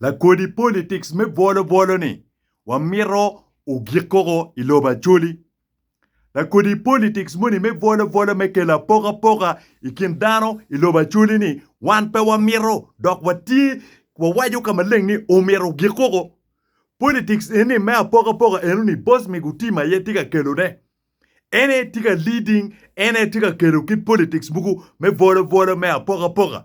Lakodi politics me bwolo bwolo ni wamito ogik koko i lobo Acholi. Lakodi politics moni me bwolo bwolo me kelo apokapoka i kin dano i lobo Acholi ni wan pe wamito dok watye wawaco ka maleng ni omyero ogik koko. Politics eni me apokapoka eno ni Boss Migutima aye tye ka kelone. En aye tye ka leading, en aye tye ka kelo kit politics mogo me bwolo bwolo me apokapoka.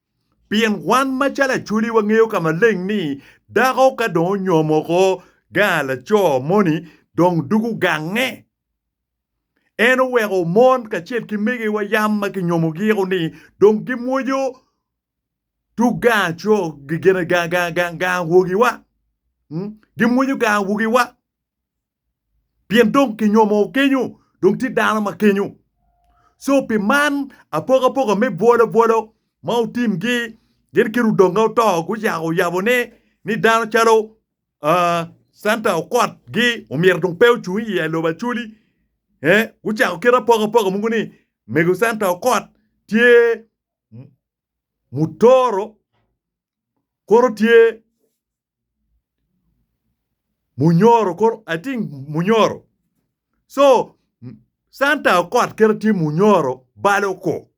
Pien wan macalo Acholi wangeyo ka maleng ni dako ka dong onyomo oko gaa laco moni dong dugo gange. En oweko mon kacel ki megiwa yam ma kinyomo giko ni dong gimwojo tug gaa co gaa gaa gaa gaa awogiwa. Gimwojo gaa awogiwa. Pien dong kinyomoo kenyo, dong tye dano ma kenyo. Co pi man, apokapoka me bwolobwolo ma otimgi, gin ki ludonge oto gucako oyabo ni, ni dano calo aa, Center okot gi omyero dong pe ocung i iye lobo acoli. E, gucako kit apokapoka mogo ni mego Center okot tye mutoro kono tye munyoro koro I think munyoro so Santa okot kit ma tye munyoro balo ko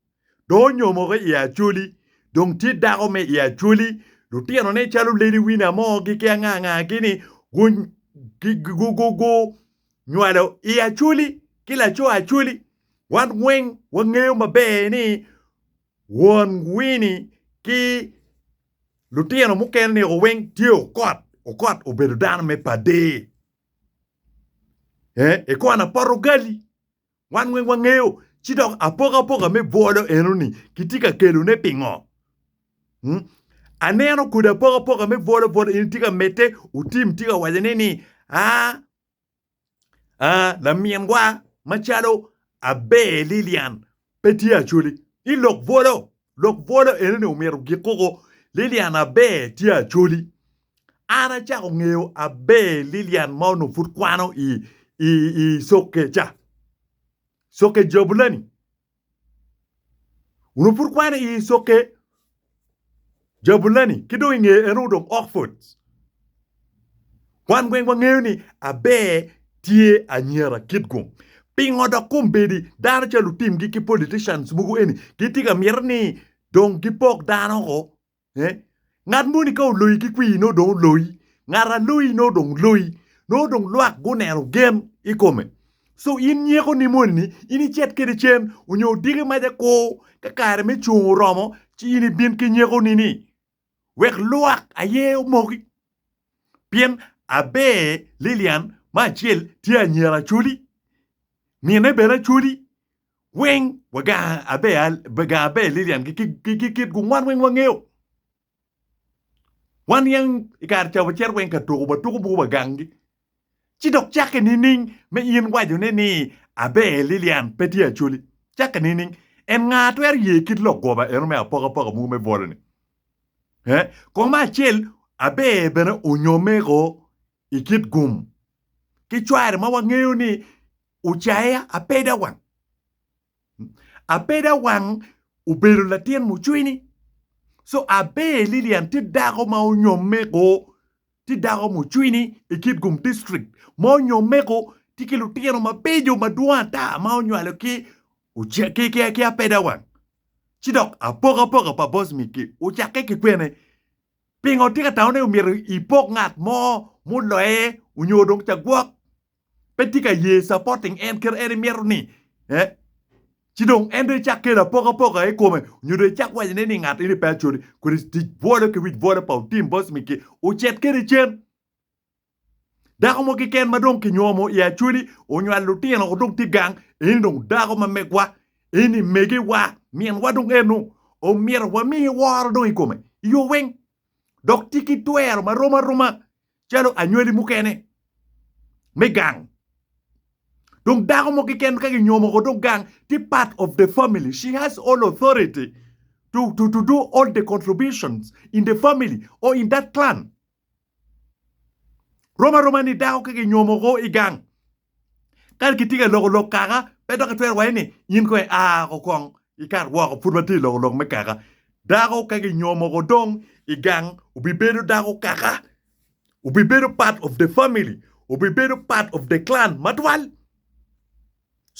dong onyomoki I acholi dong tye dako ma I acholi lutino ne calo lady winner mo ki anga anga gi ni gunywalo I acholi ki laco acholi wan weng wangeyo maber ni won Winnie ki Lutino mukene ni o weng tye okot okot obedo dano me pade eh ikon apoto ugali wan weng wangeyo ci dok apoka apoka me bwolo eno ni kitye ka kelo ne pingo mm aneno kodi apoka apoka me bwolo bwolo eno tye ka mete otim tye ka waco ne ni aa Aa, laminwa macalo aber Lilian pe tye Acholi. I lok bwolo, lok bwolo eno ni omyero gikuko Lilian aber tye Acholi. An acako ngeyo aber Lilian ma onongo pud kwano i i i sokke ca. Sokke Jabulani. Onongo pud kwane i Isoke, Jabulani, ki dong i ngeye en onongo dong Okfod. Wan weng wangeyo ni aber tye anyira kit gung. Pingo dok kombeddi dano ca lutimgi ki politicians mogo eni gitye ka mito ni dong gipok dano-o Eh? Ngat moni ka oloyi ki kwir nongo dong oloyi. Ngat aloyi nongo dong loyi. Nongo dong lwak guneno gen i kome. So in nyekoni moni-ni in icit kwede cen onyo odiki mac akur ka kare me cung oromo ci in ibin ki nyekoni-ni wek lwak aye omoki. Pien aber Lilian ma acel tye anyira Acholi, minne bene Acholi. weng wa gang abe Lilian ki kit gu ngwan weng wangeyo wan niang ikare ca wacito weng ka tuko wa tuko buku wa gang gi ci dok cake nining me in waco ne ni abe Lilian pe tye acholi cake nining en nga twero ye kit lok goba eno me apoka poka mogo me bwolo ni he kong me acel abe bene onyo meko i kit gum ki cware ma wangeyo ni ocaye apeda wang. Apeda wang obedo latin mucwini. So Aber Lilian tye dako ma onyomme go, tye dako mucwini i kit gum district ma onyomme go, tye ki lutino mabeco madwong ata ma onywalo ki ki apeda wang. Ci dok apokapoka pa Bosmic-ki ocakke ki kwene? Pingo itye ka tamo ni omyero ipok ngat mo muloye onyo dong ca gwok pe tye ka ye supporting en kit en imito ni eh ci dong en dong icak kelo apoka poka ikome onyo dong icak waco ne ni ngat eni pe acoti kodi tic bwolo ki wic bwolo pa otim boss miki ocit kede cen. Dako mo keken ma dong kinyuomo i Acholi onywalo lutino dong tye gang, eni dong dako ma megwa, eni megiwa, minwa dong eno. Omyero wami woro dong i kome i yo weng, dok tye ki twero ma rom aroma calo anywali mukene me gang. Dong dako mo keken ka kinyuomo dong gang tye part of the family. She has all authority to, to, to do all the contributions in the family or in that clan. Rom aroma ni dako ka kinyomo woko i gang ka kitye ka loko lok kaka pe dok kitwero waco ni in kong ia woko kong ikat woko pud watye ka loko lok me kaka. Dako ka kinyomo woko dong i gang obibedo dako kaka, obibedo part of the family, obibedo part of the clan matwal.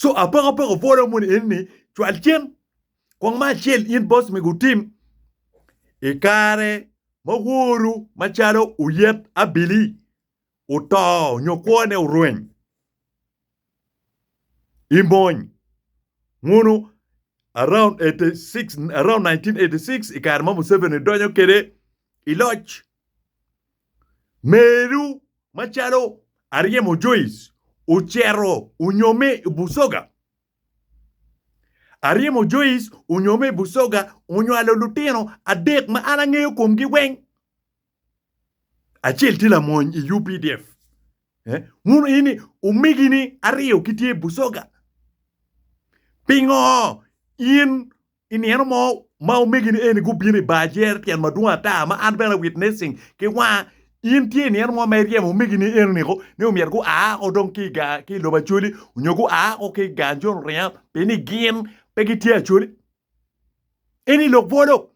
Co apoko apoko bwolo moni eni cwal cen. Kwong ma acel in boss mego wutim i kare ma woru macalo oyet abili oto nyo kwone orweny i mony munu around 1986 i kare ma Museveni donyo kwede i loc. Meru macalo Aryemo Joice ocito onyomme i Busoga. Aryemo Joyce onyo me Busoga onywalo lutino adek ma an angeyo komgi weng. Acel tye lamony i UPDF. Eh, wun ini omegini aryo gitye i Busoga. Pingo in I nino mo ma omegini eni gubino i bar jer, tyen madwong ata, ma an bene awitnessing ki wanga. In tye i nino mo ma iryemo omegini enoniko ni omyero gua woko dong ki i lobo Acholi nyo gua woko ki i gang jo luringa pi ni gin pe gitye Acholi? Eni lok bwolo!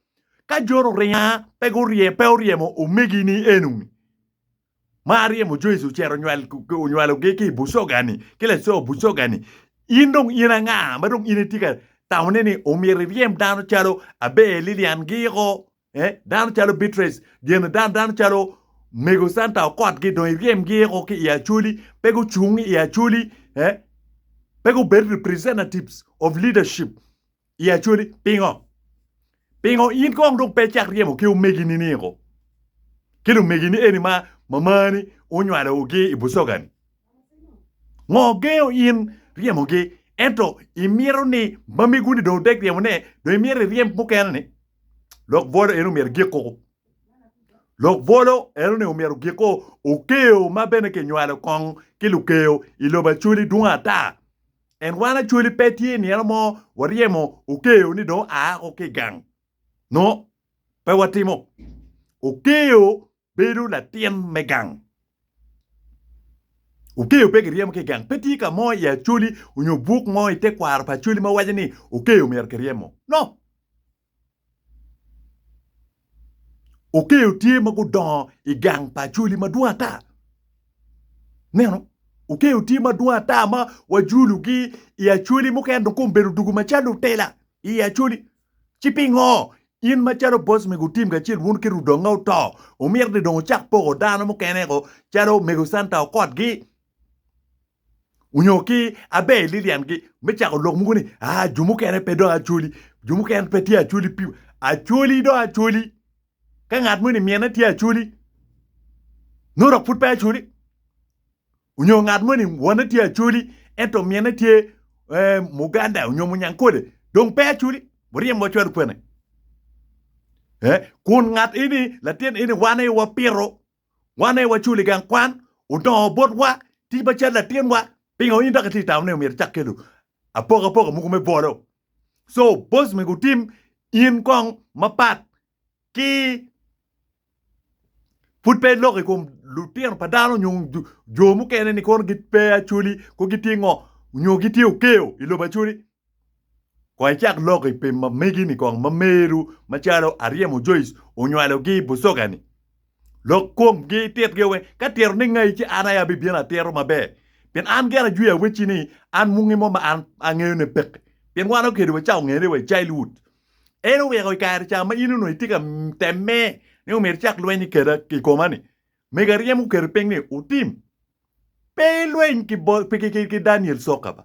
Ka jo luringa pe oryemo omegini enoni, ma aryemo jo Icrael onywalogi ki i Bucoga-ni, ki laco Bucoga-ni, in dong in anga ma dong in itye ka tamone ni omyero iryem dano calo Abel Lilian Giko, dano calo Beatrice gin, dano calo Mego Santa Okot-gi dong iryemgi oko ki i Acholi, pe gucung i Acholi, pe gubed representatives of leadership. I Acholi, pingo? Pingo in kong dong pe icak ryemo ki omegini ni ko? Ki lumegini eni ma mamani onywalo gi i Busogani? Ngo gengo in ryemo gi? Ento imito ni mamegu ni dong otek ryemo ne, dong imito iryem mukene ni? Lok bwolo eno myero gik koko. Lok bwolo eno ni omyero gik ko okeo ma bene kinywalo kong ki lukeo i lobo Acholi dwong ata. En wan Acholi pe tye nino mo waryemo Okeo ni dong oa woko ki i gang. No, pe watimo. Okeo bedo latin me gang. Okeo pe kiryemo ki i gang. Pe tye ka mo i Acholi onyo buk mo i tekwaro pa Acholi ma waco ni Okeo myero kiryemo. No! Okeyo tye ma gudongo i gang pa Acholi madwong ata. Neno, Okeyo tye madwong ata ma wajulugi i Acholi mukene dong kong bedo dugu macalo lutela i Acholi. Ci pingo in macalo boss mego otim kacel wun ki Rudonga oto omito ni dong ocak poko dano mukene-gu calo mego Santa Okot-gi? onyo ki aber Lilian gi me cako lok mogo ni aa jo mukene pe dong acholi jo mukene pe tye acholi pi acholi dong acholi ka ngat moni mine tye acholi nongo dok pud pe acholi onyo ngat moni wone tye acholi ento mine tye eh, muganda onyo munyankole dong pe acholi muryem wa cwalo kwene eh, kun ngat eni latin eni wan aye wapito Wan aye wacul i gang kwan, odongo botwa tic macalo latinwa. Pingo in dok itye ka tamo ni myero icak kelo apokapoka mogo me bolo? Co boss myero gutim in kong mapat ki pud pe iloko i kom lutino pa dano nyo jo mukene ni kono pe gitye acoli, kono gitye ngo nyo gitye okeyo i lobo acoli. Kong icak lok i pim ma megi-ni kong ma meru macalo Aryemo Joyce onywalogi i bucoga-ni. Lok komgi, ititgi awe ka tito ni ngai ci an aye abibino atito maber. Pien an gire ajwiyo awecci ni an mungi mo ma an angeyo ne pekki. Pien wan okedi wa ca ongene wa i childhood. En oweko i kare ca ma in onongo itye ka temme ni omyero icak lweny i keda i koma-ni. Mego Aryemo oketi piny ni, Otim, pe ilweny ki Daniel Sokaba.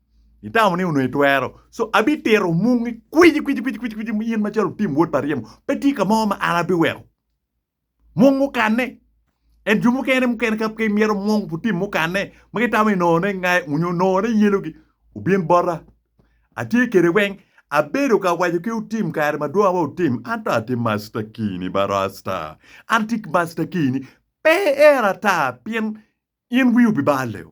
Itamo ni onongo itwero. So abitito mungi kwici kwici kwici kwici kwici in macalo tim wod pa ryemo. Pe tye ka mo ma an abiweko. Mung okanne. En jo mukene mukene ka pe imyero mung pu tim mukanne ma gitamo ni nongo ne ngai onyo nongo ne yelogi obin bota. Atye kede weng. Abedo ka waco ki otim kare madwong wa otim. An to ati masta kini ba rasta. An ati masta kini. Pe ier ata pien in wi obi bal leo.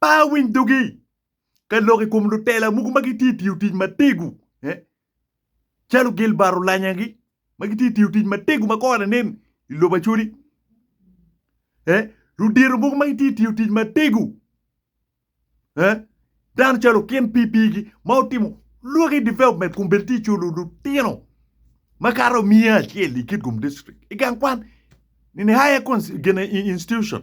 Pe awiny dogi ka lok i kom lutela mogo ma gitye tiyo tic matego calo Gilbert Olanyagi ma gitye tiyo tic matego ma kore nen i lobo Acholi. Ludito mogo ma gitye tiyo tic matego dano calo okin pipigi ma otimo lwaki development kun bene tye culo lutino makato miya acel i Kitgum District i gang kwan in a higher institution.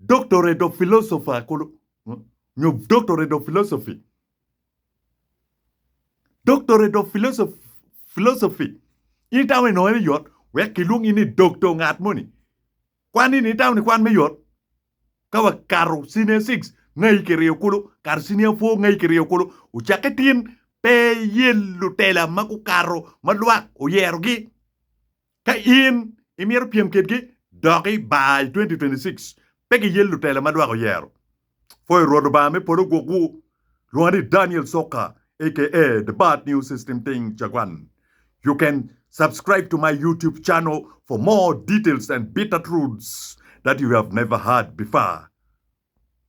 Doctorate of Philosopher kulu nyo Doctorate of Philosophy. Doctorate of Philosoph- Philosophy. In itamo ni nongo en yot wek kilwongi ni doktor ngat moni. Kwan ini itamo ni kwan me yot? Ka wakato senior 6 ngai ki ryo kulu, kato senior 4 ngai ki ryo kulu, ocakke tin pe iye lutela ma gukato ma lwak oyerogi. Ka in imito pyem kitgi dok i bar i 2026, pe giyel lutela ma lwak oyero. Pwoyo Rwot Lubanga me polo gwokwu. Lwonga ni Daniel Soka aka the Bad News System Ting Cagwan You can subscribe to my YouTube channel for more details and bitter truths that you have never heard before.